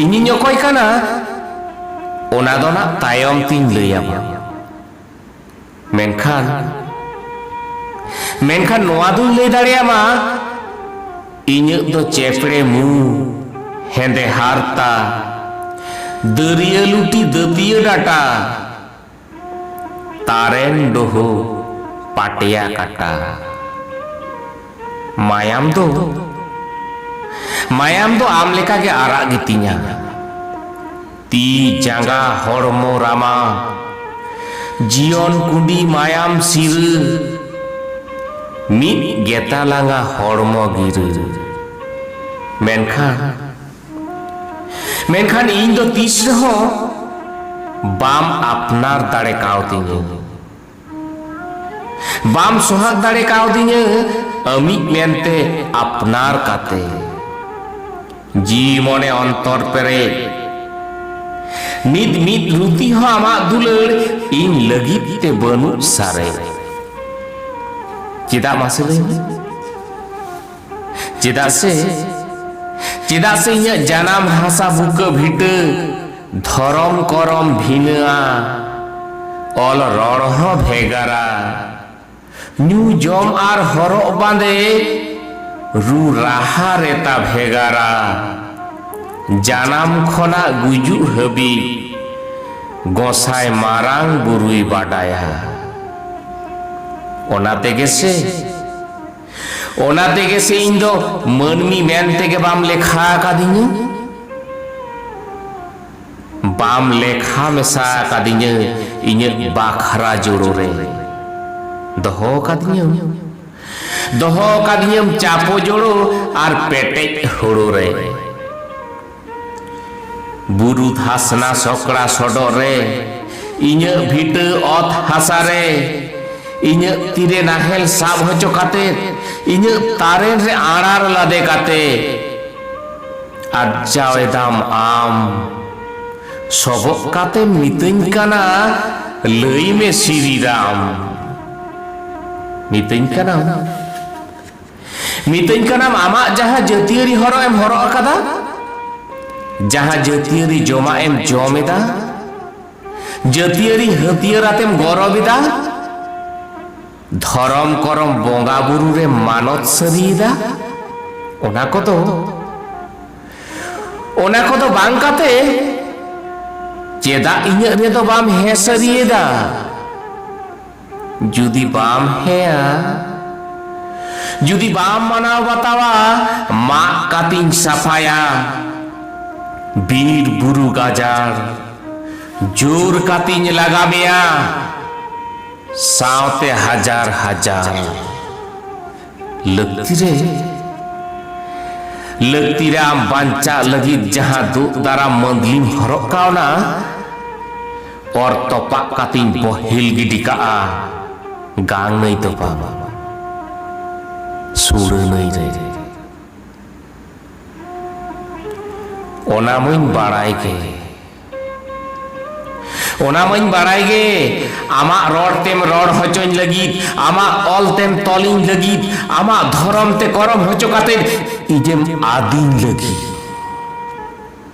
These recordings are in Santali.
ᱤᱧᱤᱧ ᱚᱠᱚᱭ ᱠᱟᱱᱟ ᱚᱱᱟ ᱫᱚ ᱱᱟᱜ ᱛᱟᱭᱚᱢ ᱛᱤᱧ ᱞᱟᱹᱭᱟᱢᱟ ᱢᱮᱱᱠᱷᱟᱱ ᱢᱮᱱᱠᱷᱟᱱ ᱱᱚᱣᱟ ᱫᱩᱧ ᱞᱟᱹᱭ ᱫᱟᱲᱮᱭᱟᱢᱟ ᱤᱧᱟᱹᱜ ᱫᱚ ᱪᱮᱯᱲᱮ ᱢᱩ ᱦᱮᱸᱫᱮ ᱦᱟᱨᱛᱟ ᱫᱟᱹᱨᱭᱟᱹ ᱞᱩᱴᱤ ᱫᱟᱹᱛᱤᱭᱟᱹ ᱰᱟᱴᱟ ᱛᱟᱨᱮᱱ ᱰᱩᱦᱩ ᱯᱟᱴᱭᱟ ᱠᱟᱴᱟ ᱢᱟᱭᱟᱢ ᱫᱚ ᱢᱟᱭᱟᱢ ᱫᱚ ᱟᱢ ᱞᱮᱠᱟ ᱜᱮ ᱟᱨᱟᱜ ᱜᱮᱛᱤᱧᱟ ᱛᱤ ᱡᱟᱸᱜᱟ ᱦᱚᱲᱢᱚ ᱨᱟᱢᱟ ᱡᱤᱭᱚᱱ ᱠᱩᱸᱰᱤ ᱢᱟᱭᱟᱢ ᱥᱤᱨᱟᱹ ᱢᱤᱫ ᱜᱮᱛᱟᱞᱟᱝᱟ ᱦᱚᱲᱢᱚ ᱜᱤᱨᱟᱹ ᱢᱮᱱᱠᱷᱟᱱ ᱢᱮᱱᱠᱷᱟᱱ ᱤᱧ ᱫᱚ ᱛᱤᱥ ᱨᱮᱦᱚᱸ ᱵᱟᱢ ᱟᱯᱱᱟᱨ ᱫᱟᱲᱮ ᱠᱟᱣᱫᱤᱧᱟᱹ ᱵᱟᱢ ᱥᱚᱦᱟᱜ ᱫᱟᱲᱮ ᱠᱟᱣᱫᱤᱧᱟᱹ ᱟᱢᱤᱡ ᱢᱮᱱᱛᱮ ᱟᱯᱱᱟᱨ ᱠᱟᱛᱮ ᱡᱤᱣᱤ ᱢᱚᱱᱮ ᱚᱱᱛᱚᱨ ᱯᱮᱨᱮᱡ ᱱᱤᱛ ᱢᱤᱫ ᱨᱩᱛᱤ ᱦᱚᱸ ᱟᱢᱟᱜ ᱫᱩᱞᱟᱹᱲ ᱤᱧ ᱞᱟᱹᱜᱤᱫ ᱛᱮ ᱵᱟᱹᱱᱩᱜ ᱥᱟᱨᱮᱡ ᱪᱮᱫᱟᱜ ᱢᱟᱥᱮ ᱞᱟᱹᱭ ᱢᱮ ᱪᱮᱫᱟᱜ ᱥᱮ ᱪᱮᱫᱟᱜ ᱥᱮ ᱤᱧᱟᱹᱜ ᱡᱟᱱᱟᱢ ᱦᱟᱥᱟ ᱵᱩᱠᱟᱹ ᱵᱷᱤᱴᱟᱹ ᱫᱷᱚᱨᱚᱢ ᱠᱚᱨᱚᱢ ᱵᱷᱤᱱᱟᱹᱜᱼᱟ ᱚᱞ ᱨᱚᱲ ᱦᱚᱸ ᱵᱷᱮᱜᱟᱨᱟ ᱧᱩ ᱡᱚᱢ ᱟᱨ ᱦᱚᱨᱚᱜ ᱵᱟᱸᱫᱮ ᱨᱩ ᱨᱟᱦᱟ ᱨᱮᱛᱟ ᱵᱷᱮᱜᱟᱨᱟ ᱡᱟᱱᱟᱢ ᱠᱷᱚᱱᱟᱜ ᱜᱩᱡᱩᱜ ᱦᱟᱹᱵᱤᱡ ᱜᱚᱸᱥᱟᱭ ᱢᱟᱨᱟᱝ ᱵᱩᱨᱩᱭ ᱵᱟᱰᱟᱭᱟ ᱚᱱᱟ ᱛᱮᱜᱮ ᱥᱮ ᱚᱱᱟ ᱛᱮᱜᱮ ᱥᱮ ᱤᱧ ᱫᱚ ᱢᱟᱹᱱᱢᱤ ᱢᱮᱱ ᱛᱮᱜᱮ ᱵᱟᱢ ᱞᱮᱠᱷᱟ ᱟᱠᱟᱫᱤᱧᱟ ᱵᱟᱢ ᱞᱮᱠᱷᱟ ᱢᱮᱥᱟ ᱟᱠᱟᱫᱤᱧᱟ ᱤᱧᱟᱹᱜ ᱵᱟᱠᱷᱨᱟ ᱡᱳᱲᱳ ᱨᱮ ᱫᱚᱦᱚ ᱟᱠᱟᱫᱤᱧᱟᱹᱢ ᱫᱚᱦᱚ ᱟᱠᱟᱫᱤᱧᱟᱹᱢ ᱪᱟᱯᱚ ᱡᱳᱲᱳ ᱟᱨ ᱯᱮᱴᱮᱡ ᱦᱳᱲᱳ ᱨᱮ ᱵᱩᱨᱩ ᱫᱷᱟᱥᱱᱟ ᱥᱚᱠᱲᱟ ᱥᱚᱰᱚᱜ ᱨᱮ ᱤᱧᱟᱹᱜ ᱵᱷᱤᱴᱟᱹ ᱚᱛ ᱦᱟᱥᱟ ᱨᱮ ᱤᱧᱟᱹᱜ ᱛᱤᱨᱮ ᱱᱟᱦᱮᱞ ᱥᱟᱵ ᱦᱚᱪᱚ ᱠᱟᱛᱮ ᱤᱧᱟᱹᱜ ᱛᱟᱨᱮᱱ ᱨᱮ ᱟᱲᱟᱨ ᱞᱟᱫᱮ ᱠᱟᱛᱮ ᱟᱨᱡᱟᱣ ᱮᱫᱟᱢ ᱟᱢ ᱥᱚᱵᱚᱜ ᱠᱟᱛᱮ ᱢᱤᱛᱟᱹᱧ ᱠᱟᱱᱟ ᱞᱟᱹᱭ ᱢᱮ ᱥᱤᱨᱤᱨᱟᱢ ᱢᱤᱛᱟᱹᱧ ᱠᱟᱱᱟᱢ ᱢᱤᱛᱟᱹᱧ ᱠᱟᱱᱟᱢ ᱟᱢᱟᱜ ᱡᱟᱦᱟᱸ ᱡᱟᱹᱛᱤᱭᱟᱹᱨᱤ ᱦᱚᱨᱚᱜ ᱮᱢ ᱦᱚᱨᱚᱜ ᱟᱠᱟᱫᱟ ᱡᱟᱦᱟᱸ ᱡᱟᱹᱛᱤᱭᱟᱹᱨᱤ ᱡᱚᱢᱟᱜ ᱮᱢ ᱡᱚᱢ ᱮᱫᱟ ᱡᱟᱹᱛᱤᱭᱟᱹᱨᱤ ᱦᱟᱹᱛᱭᱟᱹᱨ ᱟᱛᱮᱢ ᱜᱚᱨᱚᱵ ᱮᱫᱟ ᱫᱷᱚᱨᱚᱢ ᱠᱚᱨᱚᱢ ᱵᱚᱸᱜᱟ ᱵᱩᱨᱩ ᱨᱮ ᱢᱟᱱᱚᱛ ᱥᱟᱹᱨᱤᱭᱮᱫᱟ ᱚᱱᱟ ᱠᱚᱫᱚ ᱚᱱᱟ ᱠᱚᱫᱚ ᱵᱟᱝ ᱠᱟᱛᱮ ᱪᱮᱫᱟᱜ ᱤᱧᱟᱹᱜ ᱨᱮᱫᱚ ᱵᱟᱢ ᱦᱮᱸ ᱥᱟᱹᱨᱤᱭᱮᱫᱟ ᱡᱩᱫᱤ ᱵᱟᱢ ᱦᱮᱸᱭᱟ ᱡᱩᱫᱤ ᱵᱟᱢ ᱢᱟᱱᱟᱣ ᱵᱟᱛᱟᱣᱟ ᱢᱟᱜ ᱠᱟᱛᱤᱧ ᱥᱟᱯᱷᱟᱭᱟ ᱵᱤᱨ ᱵᱩᱨᱩ ᱜᱟᱡᱟᱲ ᱡᱳᱨ ᱠᱟᱛᱤᱧ ᱞᱟᱜᱟ ᱢᱮᱭᱟ ᱥᱟᱶᱛᱮ ᱦᱟᱡᱟᱨ ᱦᱟᱡᱟᱨ ᱞᱟᱹᱠᱛᱤ ᱨᱮ ᱞᱟᱹᱠᱛᱤ ᱨᱮ ᱟᱢ ᱵᱟᱧᱪᱟᱜ ᱞᱟᱹᱜᱤᱫ ᱡᱟᱦᱟᱸ ᱫᱩᱜ ᱫᱟᱨᱟᱢ ᱢᱟᱹᱫᱽᱞᱤᱢ ᱦᱚᱨᱚᱜ ᱠᱟᱣᱱᱟ ᱚᱨ ᱛᱚᱯᱟᱜ ᱠᱟᱛᱮᱧ ᱵᱚᱦᱮᱞ ᱜᱤᱰᱤ ᱠᱟᱜᱼᱟ ᱜᱟᱝ ᱱᱟᱹᱭ ᱫᱚ ᱵᱟᱝ ᱥᱩᱲᱟᱹ ᱱᱟᱹᱭ ᱨᱮ ᱚᱱᱟ ᱢᱟᱹᱧ ᱵᱟᱲᱟᱭ ᱜᱮ ᱚᱱᱟ ᱢᱟᱹᱧ ᱵᱟᱲᱟᱭ ᱜᱮ ᱟᱢᱟᱜ ᱨᱚᱲ ᱛᱮᱢ ᱨᱚᱲ ᱦᱚᱪᱚᱧ ᱞᱟᱹᱜᱤᱫ ᱟᱢᱟᱜ ᱚᱞ ᱛᱮᱢ ᱛᱚᱞᱤᱧ ᱞᱟᱹᱜᱤᱫ ᱟᱢᱟᱜ ᱫᱷᱚᱨᱚᱢ ᱛᱮ ᱠᱚᱨᱚᱢ ᱦᱚᱪᱚ ᱠᱟᱛᱮ ᱤᱧᱮᱢ ᱟᱫᱤᱧ ᱞᱟᱹᱜᱤᱫ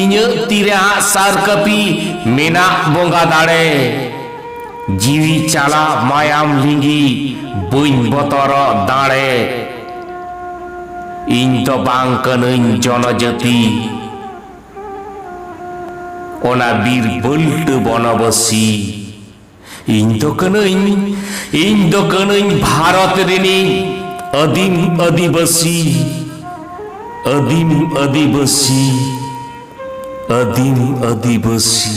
ᱤᱧᱟᱹᱜ ᱛᱤ ᱨᱮ ᱟᱸᱜ ᱥᱟᱨ ᱠᱟᱹᱯᱤ ᱢᱮᱱᱟᱜ ᱵᱚᱸᱜᱟ ᱫᱟᱲᱮ ᱡᱤᱣᱤ ᱪᱟᱞᱟᱜ ᱢᱟᱭᱟᱢ ᱞᱤᱸᱜᱤ ᱵᱟᱹᱧ ᱵᱚᱛᱚᱨᱚᱜ ᱫᱟᱲᱮ ᱤᱧ ᱫᱚ ᱵᱟᱝ ᱠᱟᱹᱱᱟᱹᱧ ᱡᱚᱱᱚ ᱡᱟᱹᱛᱤ ᱚᱱᱟ ᱵᱤᱨ ᱵᱟᱹᱞᱴᱟᱹ ᱵᱚᱱᱚᱵᱟᱹᱥᱤ᱾ ᱤᱧ ᱫᱚ ᱠᱟᱹᱱᱟᱹᱧ ᱤᱧ ᱫᱚ ᱠᱟᱹᱱᱟᱹᱧ ᱵᱷᱟᱨᱚᱛ ᱨᱤᱱᱤᱡ ᱟᱹᱫᱤᱢ ᱟᱹᱫᱤᱵᱟᱹᱥᱤ ᱟᱹᱫᱤᱢ ᱟᱹᱫᱤᱵᱟᱹᱥᱤ ᱟᱹᱫᱤᱢ ᱟᱹᱫᱤᱵᱟᱹᱥᱤ